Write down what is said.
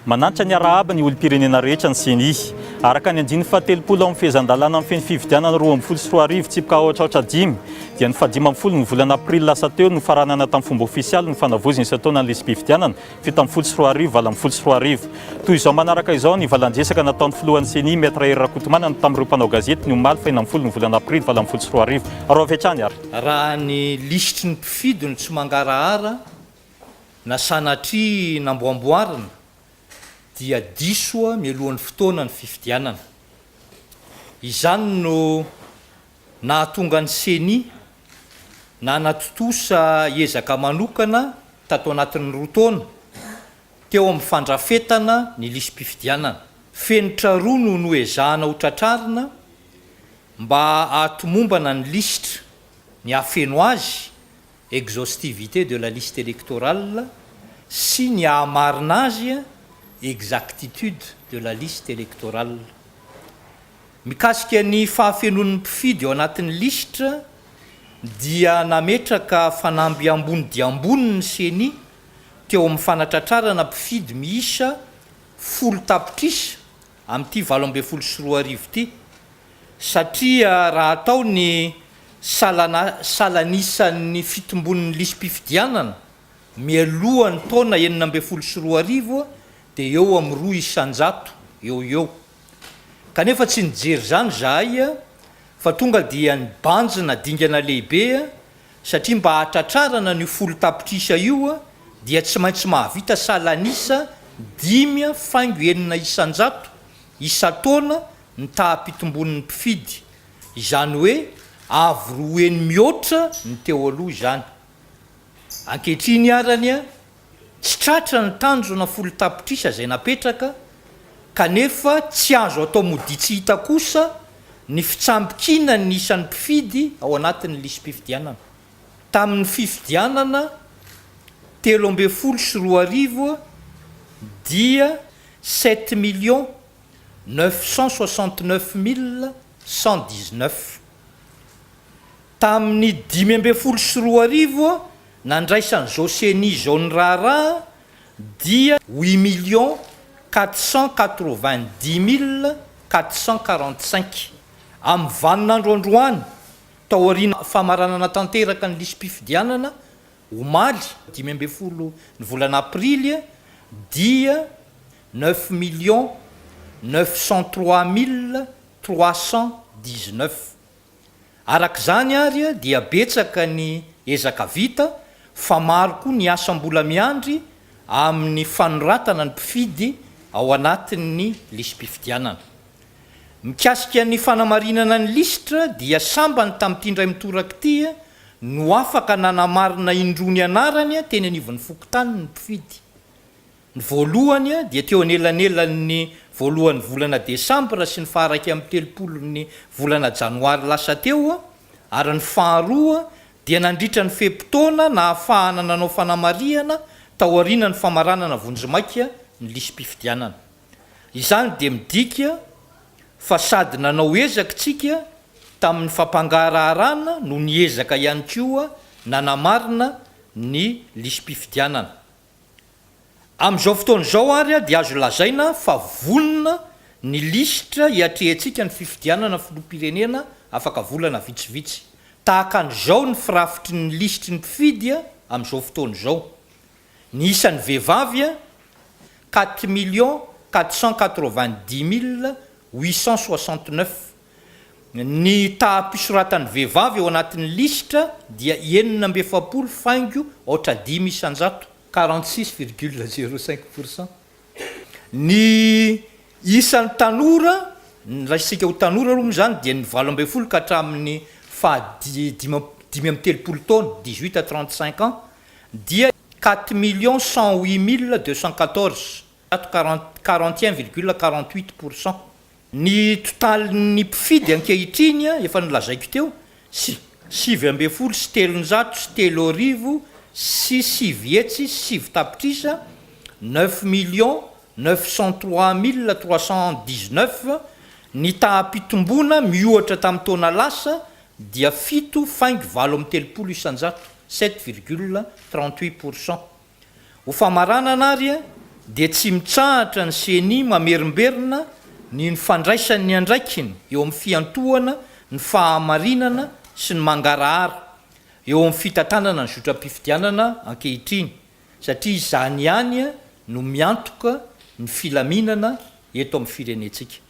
Manantitra ny arahaba ny olom-pirenena rehetra ny ceni. Araka ny andininy fahatelopolo ao amin'ny fehezan-dalàna feno fifidianana roa ambin'ny folo sy roa arivo tsipka aotraotra dimy dia ny fahadimy ambin'ny folo ny volana aprily lasa teo no faranana tamin'ny fomba ofisialy ny fanavaozana isan-taona ny lisi-pifidianana fito ambin'ny folo sy roa arivo, valo ambin'ny folo sy roa arivo. Toy izao manaraka izao ny valan-dresaka nataon'ny filohan'ny Ceni, Maître Hery Rakotomanana tamin'ireo mpanao gazety ny omaly faha enina ambin'ny folo ny volana aprily valo ambin'ny folo sy roa arivo. Araovy hatrany ary. Raha ny lisitry ny mpifidy no tsy mangarahara na sanatria namboamboarina dia diso mialohan'ny fotoana ny fifidianana. Izany no. Nahatonga ny Ceni nanatontosa ezaka manokana tato anatin'ny roa taona teo amin'ny fandrafetana ny lisi-pifidianana. Fenitra roa no noezahana ho tratrarina mba hahatomombana ny lisitra, ny hahafeno azy, exhaustivité de la liste électorale, sy ny hahamarina azy, exactitude de la liste électorale. Mikasika ny fahafenoan'ny mpifidy ao anatin'ny lisitra dia nametraka fanamby ambony dia ambony ny Ceni teo amin'ny fanatratrarana mpifidy miisa folo tapitrisa amin'ity valo ambin'ny folo sy roa arivo ity satria raha atao ny salanisan'ny fitombon'ny lisi-pifidianana mialohan'ny taona enina ambin'ny folo sy roa arivo dia eo amin'ny roa isan-jato eo ho eo Kanefa tsy nijery izany izahay fa tonga dia nibanjina dingana lehibe satria mba hahatratrarana an'io folo tapitrisa io dia tsy maintsy mahavita salan'isa dimy faingo enina isan-jato isan-taona ny taha-pitombon'ny mpifidy, izany hoe avo roa heny mihoatra ny teo aloha izany. Ankehitriny arany Tsy tratra ny tanjona folo tapitrisa izay napetraka kanefa tsy azo atao modia tsy hita kosa ny fitsambikinan'ny isan'ny mpifidy ao anatin'ny lisi-pifidianana. Tamin'ny fifidianana telo ambin'ny folo sy roa arivo dia sept millions neuf cent soixante neuf mille cent dix neuf. Tamin'ny dimy ambin'ny folo sy roa arivo Nandraisan'izao ceni izao ny raharaha dia huit millions quatre cent quatre-vingt-dix mille quatre cent quarante-cinq. Amin'ny vanin'andro androany, taorian'ny famaranana tanteraka ny lisi-pifidianana, omaly, dimy ambin'ny folo ny volana aprily, dia neuf millions neuf cent trois mille trois cent dix-neuf. Araka izany ary dia betsaka ny ezaka vita fa maro koa ny asa mbola miandry amin'ny fanoratana ny mpifidy ao anatin'ny lisi-pifidianana. Mikasika ny fanamarinana ny lisitra dia sambany tamin'ity indray mitoraka ity no afaka nanamarina indroa ny anarany teny anivon'ny fokontany ny mpifidy. Ny voalohany dia teo anelanelan'ny voalohan'ny volana desambra sy ny faharaika amby telopolon'ny volana janoary lasa teo ary ny faharoa dia nandritra ny fe-potoana nahafahana nanao fanamarihana taorianan'ny famaranana vonjimaika ny lisi-pifidianana. Izany dia midika fa sady nanao ezaka isika tamin'ny fampangaraharana no niezaka ihany koa nanamarina ny lisi-pifidianana. Amin'izao fotoana izao ary dia azo lazaina fa vonona ny lisitra hiatrehantsika ny fifidianana filoham-pirenena afaka volana vitsivitsy. Tahaka an'izao ny firafitry ny lisitry ny mpifidy amin'izao fotoana izao, ny isan'ny vehivavy, quatre millions quatre cent quatre-vingt-dix mille huit cent soixante-neuf Ny taha-pisoratan'ny vehivavy ao anatin'ny lisitra dia enina amby efapolo faingo aotra dimy isan-jato, quarante six virgule zero cinq pour cent, ny isan'ny tanora, ny raisitsika ho tanora aloha moa izany dia ny valo ambin'ny folo ka hatramin'ny faha dimy amby telopolo taona, dix huit à trente cinq ans, dia quatre millions cent huit mille deux cent quatorze, zato, quarante, quarante et un virgule quarante huit pour cent. Ny totalin'ny mpifidy ankehitriny, efa nolazaiko teo, sy sivy ambin'ny folo sy telonjato sy telo arivo sy sivy hetsy sy sivy tapitrisa, neuf millions neuf cent trois mille trois cent dix-neuf, ny taha-pitomboana miohatra tamin'ny taona lasa dia fito faingo valo amby telopolo isanjato, sept virgule trente-huit pour cent. Ho famaranana ary dia tsy mitsahatra ny Ceni mamerimberina ny ny fandraisany ny andraikiny eo amin'ny fiantohana ny fahamarinana sy ny mangarahara eo amin'ny fitantanana ny zotram-pifidianana ankehitriny satria izany ihany no miantoka ny filaminana eto amin'ny firenentsika.